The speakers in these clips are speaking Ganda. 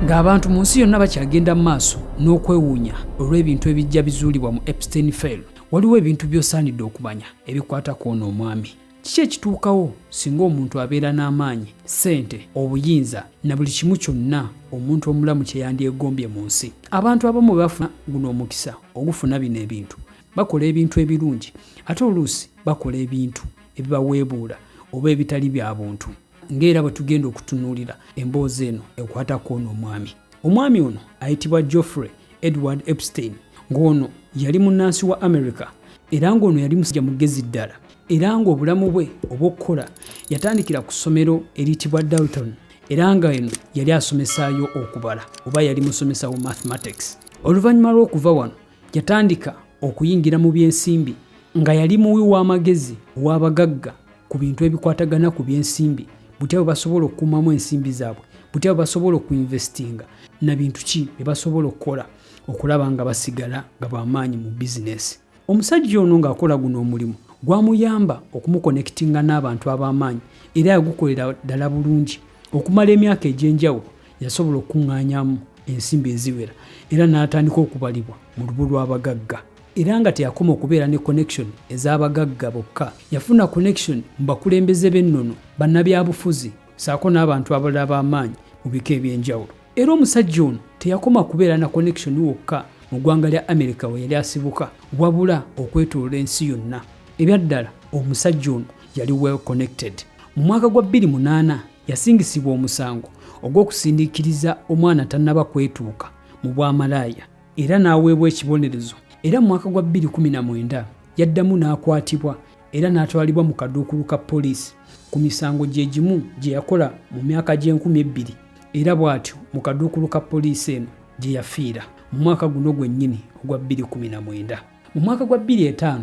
Ng'abantu mu nsi yonna bakyagenda mu maaso n'okwewuunya olw'ebintu ebijja bizuulibwa mu Epstein File, waliwo ebintu by'osaanidde okumanya ebikwata ku ono omwami. Kiki ekituukawo singa omuntu abeera n'amaanyi, ssente, obuyinza na buli kimu kyonna omuntu omulamu kye yandyegombye mu nsi? Abantu abamu bwe bafuna guno omukisa ogufuna bino ebintu, bakola ebintu ebirungi ate oluusi bakola ebintu ebibaweebuula oba ebitali bya buntu. ng'era bwe tugenda okutunuulira emboozi eno ekwata ku ono omwami omwami ono ayitibwa geoffrey edward epstein ng'ono yali munnansi wa america era ng'ono yali musajja mugezi ddala era ng'obulamu bwe obw'okukola yatandikira ku ssomero eriyitibwa dalton era nga eno yali asomesaayo okubala oba yali musomesa wa mathematics oluvannyuma lw'okuva wano yatandika okuyingira mu by'ensimbi nga yali muwi w'amagezi ow'abagagga ku bintu ebikwatagana ku byensimbi butya bwe basobola okukuumamu ensimbi zaabwe butya bwe basobola okuinvestinga na bintu ki bye basobola okukola okulaba nga basigala nga bamaanyi mu bizinesi omusajja ono ng'akola guno omulimu gwamuyamba okumukonekitinga n'abantu ab'amaanyi era yagukolera ddala bulungi okumala emyaka egy'enjawulo yasobola okukuŋŋaanyamu ensimbi eziwera era n'atandika okubalibwa mu lubu lw'abagagga era nga teyakoma okubeera ne connection ez'abagagga bokka, yafuna connection mu bakulembeze b'ennono, bannabyabufuzi ssaako n'abantu abalala ab'amaanyi mu bika eby'enjawulo. Era omusajja ono teyakoma kubeera na connection wokka mu ggwanga lya America we yali asibuka, wabula okwetoolola ensi yonna. Ebyaddala omusajja ono yali well connected. Mu mwaka gwa bbiri munaana yasingisibwa omusango ogw'okusindiikiriza omwana tannaba kwetuuka mu bwamalaaya. era n'aweebwa ekibonerezo era mu mwaka gwa 2019 yaddamu n'akwatibwa era n'atwalibwa mu kaduukulu ka poliisi ku misango gye gimu gye yakola mu myaka gy'enkumi ebbiri era bw'atyo mu kaduukulu ka poliisi eno gye yafiira mu mwaka guno gwennyini ogwa 2019. Mu mwaka gwa 2005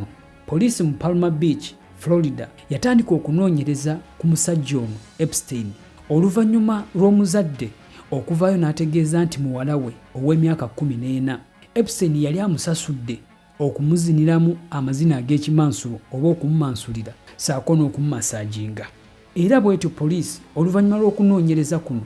poliisi mu Palma Beach, Florida yatandika okunoonyereza ku musajja ono Epstein oluvannyuma lw'omuzadde okuvaayo n'ategeeza nti muwala we ow'emyaka 14 Epstein yali amusasudde okumuziniramu amazina ag'ekimansulo oba okumumansulira saako n'okumumasaaginga era bwetyo poliisi oluvannyuma lw'okunoonyereza kuno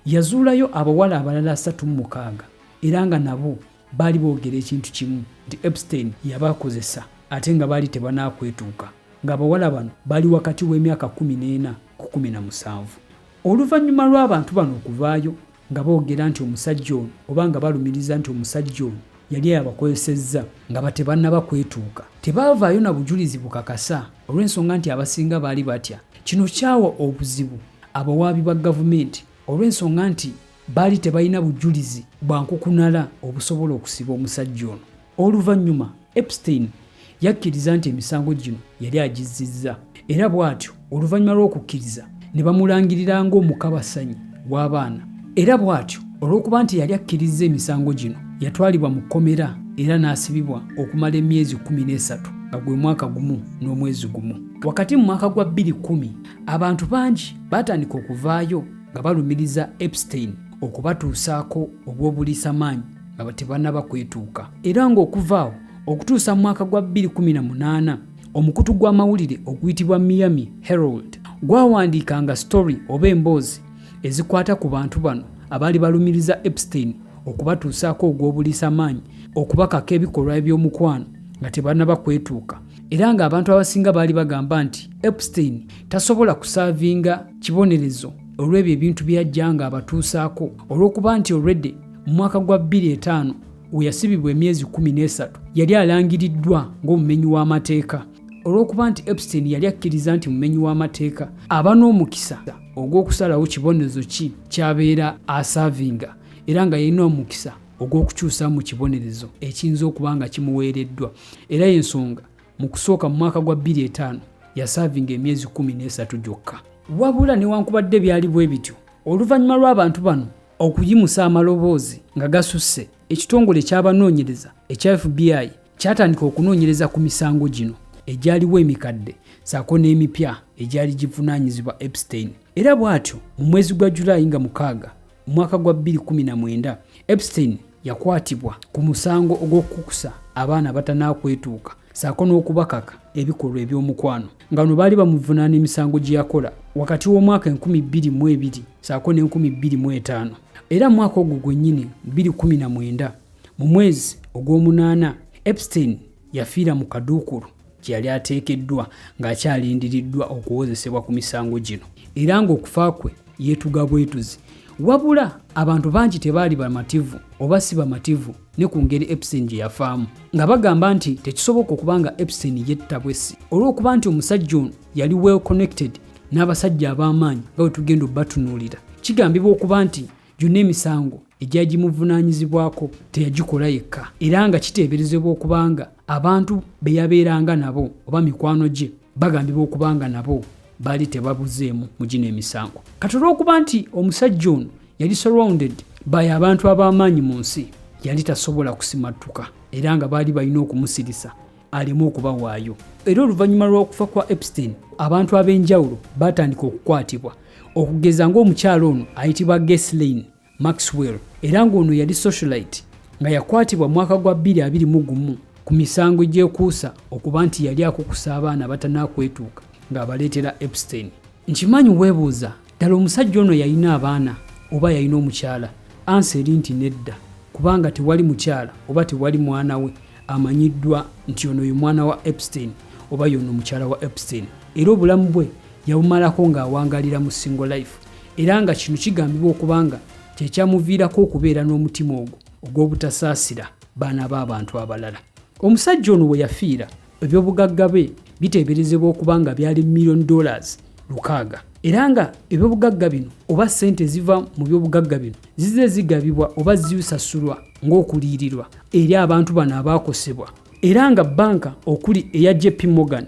yazuulayo abawala abalala asatu mu mukaaga era nga nabo Baali boogera ekintu kimu nti Epstein yabakozesa ate nga baali tebanakwetuuka ng'abawala bano bali wakati w'emyaka kkumi n'ena ku kkumi na musanvu. Oluvannyuma lw'abantu bano okuvaayo nga boogera nti omusajja ono oba nga balumiriza nti omusajja ono yali ayabakozesezza nga batebannaba kwetuuka, tebaavaayo na bujulizi bukakasa olw'ensonga nti abasinga baali batya. Kino kyawa obuzibu abawaabi ba gavumenti olw'ensonga nti Baali tebalina bujulizi bwa nkukunala obusobola okusiba omusajja ono. Oluvannyuma, Epstein yakkiriza nti emisango gino yali agizzizza, era bw'atyo oluvannyuma lw'okukkiriza ne bamulangirira ng'omukabasanyi w'abaana. Era bw'atyo, olw'okuba nti yali akkirizza emisango gino, yatwalibwa mu kkomera era n'asibibwa okumala emyezi kkumi n'esatu, nga gwe mwaka gumu n'omwezi gumu. Wakati mu mwaka gwa bbiri kkumi, abantu bangi baatandika okuvaayo. nga balumiriza Epstein okubatuusaako obw'obuliisamaanyi nga tebanaba kwetuuka era ng'okuva awo okutuusa mu mwaka gwa 2018 omukutu gw'amawulire oguyitibwa Miami Herald gwawandiikanga story oba emboozi ezikwata ku bantu bano abaali balumiriza Epstein okubatuusaako ogw'obuliisamaanyi okubakako ebikolwa eby'omukwano nga tebanaba kwetuuka era ng'abantu abasinga baali bagamba nti Epstein tasobola kusaavinga kibonerezo olw'ebyo ebintu bye yajja nga abatuusaako olw'okuba nti olwedde mu mwaka gwa 25 we yasibibwa emyezi 13 yali alangiriddwa ng'omumenyi w'amateeka olw'okuba nti epstein yali akkiriza nti mumenyi w'amateeka aba n'omukisa ogw'okusalawo kibonerezo ki kyabeera asaavinga era nga yalina omukisa ogw'okukyusa mu kibonerezo ekiyinza okuba nga kimuweereddwa era y'ensonga Mu kusooka mu mwaka gwa bbiri etaano yasaavinga emyezi kkumi n'esatu gyokka. Wabula newankubadde byali bwe bityo, oluvannyuma lw'abantu bano okuyimusa amaloboozi nga gasusse, ekitongole ky'abanoonyereza ekya FBI kyatandika okunoonyereza ku misango gino egyaliwo emikadde saako n'emipya egyali givunaanyizibwa Epstein era bw'atyo mu mwezi gwa July nga mukaaga Mu mwaka gwa 2019 Epstein yakwatibwa ku musango ogw'okukusa abaana abatanakwetuuka saako n'okubakaka ebikolwa eby'omukwano nga no baali bamuvunaana emisango gye yakola wakati w'omwaka 2022 saako ne 2025 era mu mwaka ogwo gwennyini 2019 mu mwezi ogw'omunaana Epstein yafiira mu kaduukulu gye yali ateekeddwa ng'akyalindiriddwa okuwozesebwa ku misango gino era ng'okufa kwe yeetuga bwetuzi wabula abantu bangi tebaali bamativu oba si bamativu ne ku ngeri epsin gye yafaamu nga bagamba nti tekisoboka okuba nga epsin yetta bwessi olw'okuba nti omusajja ono yali well connected n'abasajja ab'amaanyi nga bwe tugenda obatunuulira kigambibwa okuba nti Gyonna emisango egyagimuvunaanyizibwako teyagikola yekka era nga kiteeberezebwa okuba nga abantu be yabeeranga nabo oba mikwano gye bagambibwa okuba nga nabo baali tebabuzeemu mu gino emisango kati olw'okuba nti omusajja ono yali surrounded by abantu ab'amaanyi mu nsi yali tasobola kusimattuka era nga baali balina okumusirisa aleme okubawaayo era oluvannyuma lw'okufa kwa epstein abantu ab'enjawulo baatandika okukwatibwa okugeza ng'omukyalo ono ayitibwa geslin maxwell era ng'ono yali socialite nga yakwatibwa mwaka gwa 221 ku misango gyekuusa okuba nti yali akukusa abaana abatanakwetuuka ng'abaleetera epstein nkimanyi weebuuza Ddala omusajja ono yalina abaana oba yalina omukyala? Ansa eri nti nedda kubanga tewali mukyala oba tewali mwana we amanyiddwa nti ono ye mwana wa Epstein oba yono mukyala wa Epstein era obulamu bwe yabumalako ng'awangalira mu single life era nga kino kigambibwa okubanga kyekyamuviirako okubeera n'omutima ogwo ogw'obutasaasira baana b'abantu abalala. Omusajja ono we yafiira Ebyobugagga bye biteeberezebwa okuba nga byali million dollars lukaaga era nga ebyobugagga bino oba ssente eziva mu byobugagga bino zize zigabibwa oba zisasulwa ng'okuliyirirwa eri abantu bano abaakosebwa era nga bbanka okuli eya jp morgan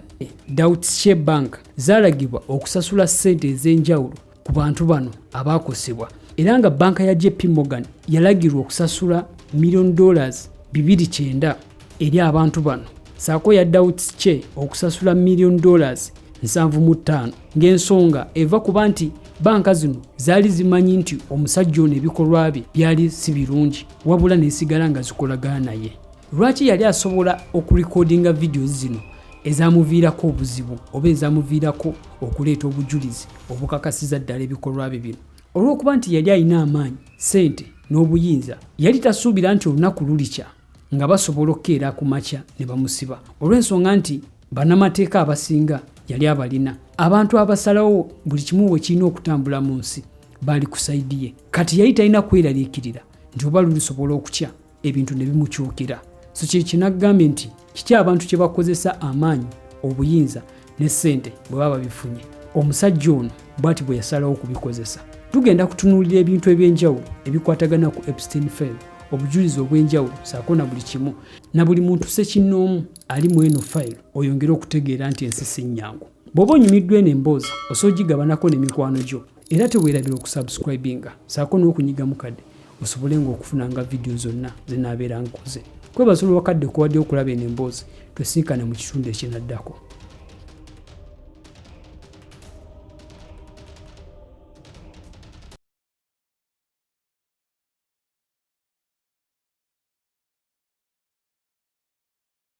dout she bank zaalagibwa okusasula ssente ez'enjawulo ku bantu bano abaakosebwa era nga banka ya jp morgan yalagirwa okusasula million dollars 29 eri abantu bano saako ya dauts che okusasula million dollars 75 ng'ensonga eva kuba nti banka zino zaali zimanyi nti omusajja ono ebikolwa bye byali si birungi wabula nesigala nga zikolagana naye lwaki yali asobola okurekodinga vidiyo zino ezamuviirako obuzibu oba ezamuviirako okuleeta obujulizi obukakasiza ddala ebikolwa bye bino olw'okuba nti yali alina amaanyi ssente n'obuyinza yali tasuubira nti olunaku lulikya nga basobola okukeera ku makya ne bamusiba olw'ensonga nti bannamateeka abasinga yali abalina abantu abasalawo buli kimu bwe kirina okutambula mu nsi baali ku sayidi ye kati yali talina kweraliikirira nti oba lulisobola okutya ebintu ne bimukyukira so kye kinagambye nti kiki abantu kye bakozesa amaanyi obuyinza ne ssente bwe baba bifunye omusajja ono bwati bwe yasalawo okubikozesa tugenda kutunuulira ebintu eby'enjawulo ebikwatagana ku epstein fail obujulizi obw'enjawulo saako na buli kimu na buli muntu sekinnoomu ali mu eno fayiro oyongere okutegeera nti ensi si nnyangu bw'oba onyumiddwa eno emboozi osobola ogigabanako ne mikwano gyo era teweerabira okusubscribinga saako n'okunyiga mukadde osobole nga okufunanga vidiyo zonna zinaabeera nkoze kwebaza olwakadde kuwadde okulaba eno emboozi twesinkane mu kitundu ekinaddako